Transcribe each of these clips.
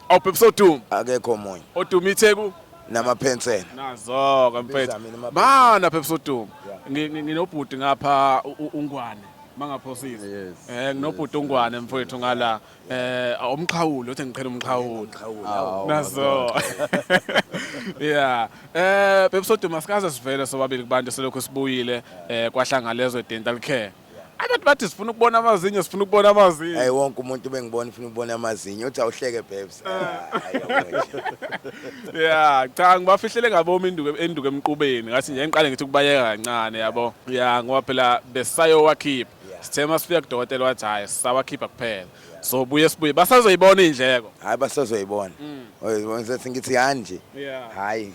awuphepisa odumo akekho omunye odumo itheku namaphensela nazo ke mfethu mana phepisa odumo nginobhuti ngapha ungwane mangaphosisi eh nginobhuti ungwane mfethu ngala eh umqhawulo uthi ngiqhela umqhawulo nazo yeah eh phepisa odumo sikaze sivele sobabili kubantu selokhu sibuyile eh kwahlangalezwe dental care Abantu bathi sifuna ukubona amazinyo, sifuna ukubona amazinyo. Hey wonke umuntu bengibona ufuna ukubona amazinyo, uthi awuhleke babes. Eh. Ah, hayi, yabona nje. Yeah, cha ngibafihlele ngabomi induku enduku emqubeni. Ngathi nje ngiqale ngithi kubayeka kancane yabo. Yeah, ngoba phela besayowakhipha. Yeah. Sithe masifika kudokotela wathi hayi sawakhipha kuphela. so buye sibuye basazoyibona indleko hayi basazoyibona mm. oyibona sethi ngithi kanje hayi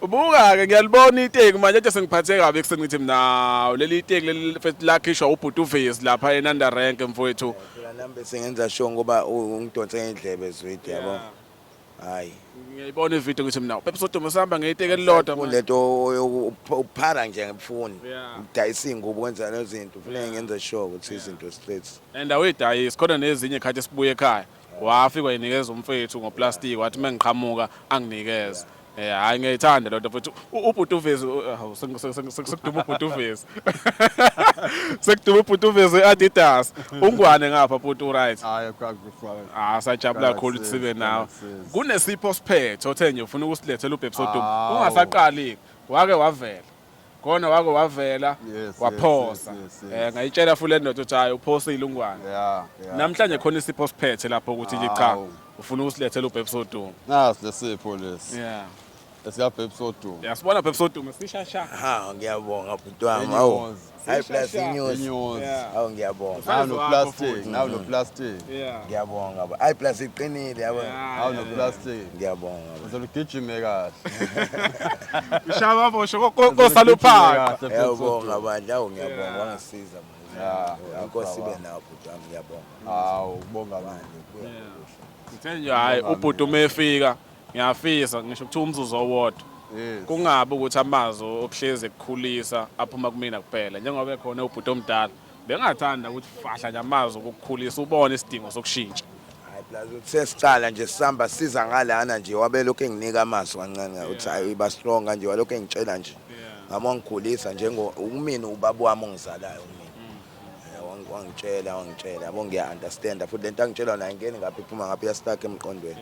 ubuka ke ngiyalibona iteki manje nje sengiphathe kabi ekuseni ngithi mina leli iteki leli lakhishwa ubhuti uvezi lapha enanda rank mfowethu nambe sengenza sho ngoba ungidonse ngendlebe zwidi yabo hayi ngiyayibona ivideo ngithi mina upepe sodumo sihamba ngeyiteke elilodwa manje. lento uphara nje ngifuni Yeah. ngidayisa iy'ngubo kwenza lezo zinto kufuneka ngenze sure ukuthi izinto straight and awuyidayisi khona nezinye khathi sibuye ekhaya wafikwa yinikeza umfethu ngoplastic wathi mengiqhamuka anginikeze Eh hayi ngiyayithanda lento futhi ubhuti uvezi hawu sekuduma ubhuti uvezi. Sekuduma ubhuti uvezi Adidas. Ungwane ngapha bhuti u right. Hayi kwakufana. Ah sajabula kakhulu ukuthi sibe nawe. Kunesipho siphethe othe nje ufuna ukusilethela ubhebsodumo. Ungasaqali wake wavela. khona wake wavela Yes, waphosa yes, yes, yes, Eh, yes. ngayitshela futhi le ndoda ukuthi hayi uphose ilungwane Yeah, yeah. namhlanje khona isipho siphethe lapho ukuthi nje cha Awu. ufuna usilethela ubhebhi sodumo Nasi lesipho lesi. yeah Esika babe sodumo. yasibona ubhebhi sodumo sishasha Ha ngiyabonga bhuti wami. Awu. Inyozi. Hayi plus inyosi. Inyosi. Yeah. Awu ngiyabonga. Size Awuno wakho plastic, futhi. awuno plastic. Yeah. Ngiyabonga baba. Hayi plus iqinile yabo. Yeah. Awuno plastic. Ngiyabonga baba. Uzolo gijime kahle. Ushaya amabosho ko- ko- kosaluphaqa. Ngiyabonga bandla. Awu ngiyabonga Yeah. wangisiza manje. Yeah, yeah, Inkosi baba. ibe nawo bhuti wami ngiyabonga. Hawu, bonga manje. Ngithe nje hayi ubhuti uma efika Ngiyafisa ngisho kuthiwa umzuzu owodwa Yes. kungabi ukuthi amazwi okuhlezi ekukhulisa aphuma kumina kuphela njengoba ekhona ubhuti omdala bengathanda ukuthi fahla nje amazwi okukhulisa ubone isidingo sokushintsha Hayi plus uthi sesiqala nje sihamba siza ngalana nje wabelokhu enginika amazwi kancane uthi hayi iba strong kanje walokhu engitshela nje ngami wangigulisa njengo umina ubaba wami ongizalayo umina Eh, wangi- wangitshela wangitshela yabo ngiya-understanda futhi le nto angitshelwa nayo ingeni ngapha iphuma ngapha iyastuck emqondweni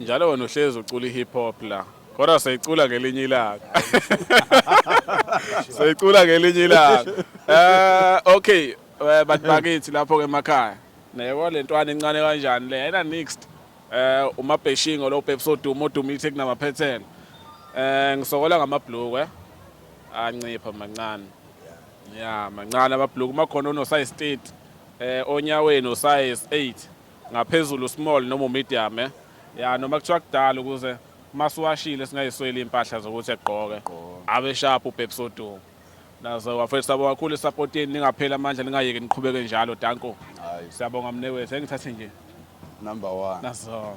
Njalo wena uhlezi ucula i-hip hop la. Kodwa seyicula ngelinye ilanga. Seyicula ngelinye ilanga. Eh okay, eh, bantu bakithi lapho ke emakhaya. Neyebo lentwana encane kanjani le? Ayina next. Eh uma Beshingo lo Pepsi oduma oduma ithe kunamaphethelo. Eh ngisokola ngamabhlukwe. Eh? Ancipha mancane. Yeah, mancane amabhlukwe makhona ono size 30. Eh onyaweni usize 8. ngaphezulu small noma medium eh ya noma kuthiwa kudala ukuze masiwashile singayisweli impahla zokuthi egqoke abe sharp ubhebsodu naze wafethu sabo kakhulu support yenu ningapheli amandla ningayeki niqhubeke njalo danko siyabonga mnewethu engithathe nje number 1 nazo